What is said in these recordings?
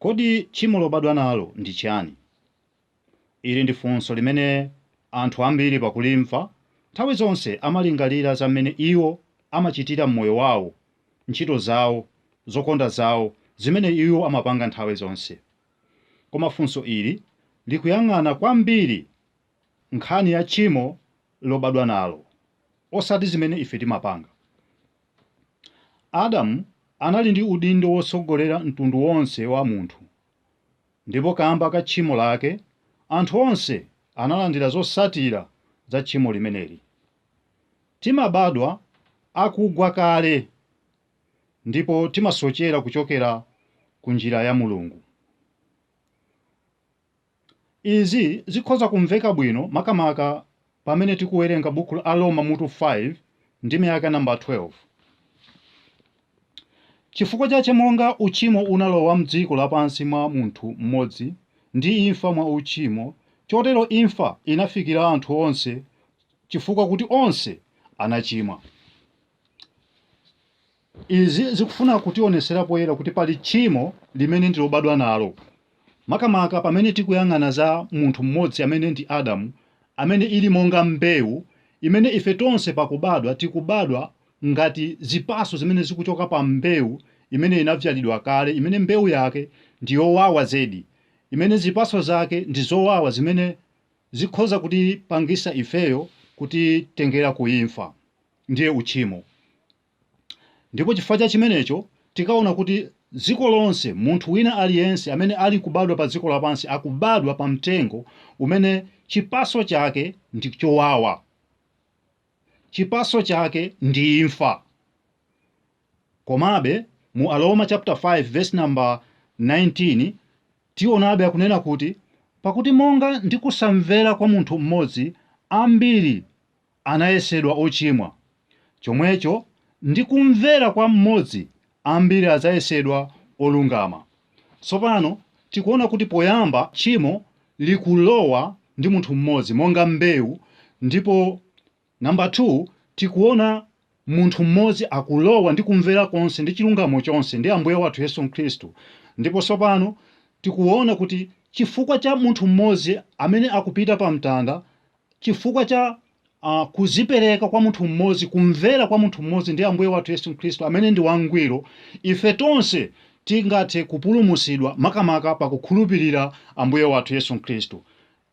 Kodi tchimo lobadwa nalo ndi chiyani? Ili ndi funso limene anthu ambiri pakulimva nthawi zonse amalingalira za m'mene iwo amachitira m'moyo wawo, ntchito zawo, zokonda zawo, zimene iwo amapanga nthawi zonse. Koma funso ili likuyang'ana kwambiri nkhani ya tchimo lobadwa nalo, osati zimene ife timapanga. Adamu anali ndi udindo wotsogolera mtundu wonse wa munthu, ndipo kamba ka tchimo lake anthu onse analandira zotsatira za tchimo limeneli. Timabadwa akugwa kale ndipo timasochera kuchokera ku njira ya Mulungu. Izi zikhoza kumveka bwino makamaka pamene tikuwerenga buku la Aroma mutu 5 ndime yake namba 12. Chifukwa chache monga uchimo unalowa m'dziko lapansi mwa munthu mmodzi, ndi imfa mwa uchimo, chotero imfa inafikira anthu onse, chifukwa kuti onse anachimwa. Izi zikufuna kutionetsera poyera kuti pali tchimo limene ndi lobadwa nalo, makamaka pamene tikuyang'ana za munthu m'modzi amene ndi Adamu, amene ili monga mbewu imene ife tonse pakubadwa tikubadwa ngati zipatso zimene zikuchoka pa mbewu imene inavyalidwa kale, imene mbewu yake ndi yowawa zedi, imene zipatso zake ndi zowawa zimene zikhoza kutipangitsa ifeyo kutitengera ku imfa, ndiye uchimo. Ndipo chifukwa cha chimenecho, tikaona kuti dziko lonse, munthu wina aliyense amene ali kubadwa pa dziko lapansi akubadwa pa mtengo umene chipatso chake ndi chowawa. Chipatso chake ndi imfa. Komabe, mu Aroma chapter 5 verse number 19, tionabe akunena kuti, Pakuti monga ndi kusamvera kwa munthu m'modzi ambiri anayesedwa ochimwa, chomwecho ndi kumvera kwa m'modzi ambiri adzayesedwa olungama. Tsopano, tikuona kuti poyamba tchimo likulowa ndi munthu m'modzi monga mbewu ndipo Number 2, tikuona munthu m'modzi akulowa ndi kumvera konse ndi chilungamo chonse ndi Ambuye wathu Yesu Khristu ndipo tsopano tikuona kuti chifukwa cha munthu m'modzi amene akupita pamtanda chifukwa cha uh, kuzipereka kwa munthu mmodzi kumvera kwa munthu mmodzi ndi ambuye wathu yesu khristu amene ndi wangwiro ife tonse tingathe kupulumutsidwa makamaka pakukhulupirira ambuye wathu yesu khristu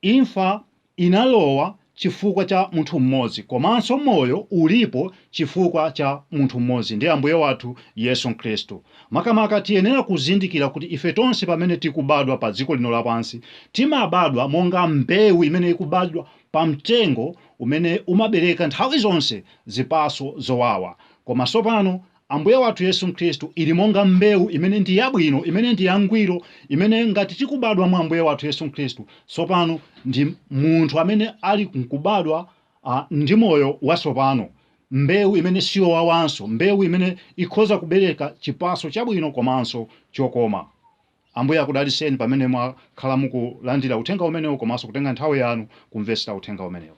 imfa inalowa chifukwa cha munthu mmodzi komanso moyo ulipo chifukwa cha munthu mmodzi ndi ambuye wathu yesu khristu Makamaka, tiyenera kuzindikira kuti ife tonse pamene tikubadwa pa dziko lino lapansi, timabadwa monga mbewu imene ikubadwa pa mtengo umene umabereka nthawi zonse zipatso zowawa. Koma tsopano, Ambuye wathu Yesu Khristu ili monga mbewu imene ndi yabwino, imene ndi yangwiro, imene ngati tikubadwa mwa Ambuye wathu Yesu Khristu, tsopano ndi munthu amene ali nkubadwa a, ndi moyo watsopano. mbewu imene siyowawanso, mbewu imene ikhoza kubereka chipatso chabwino komanso chokoma. Ambuye akudalitseni pamene mwakhala mukulandira uthenga umenewu komanso kutenga nthawi yanu kumvetsera uthenga umenewu.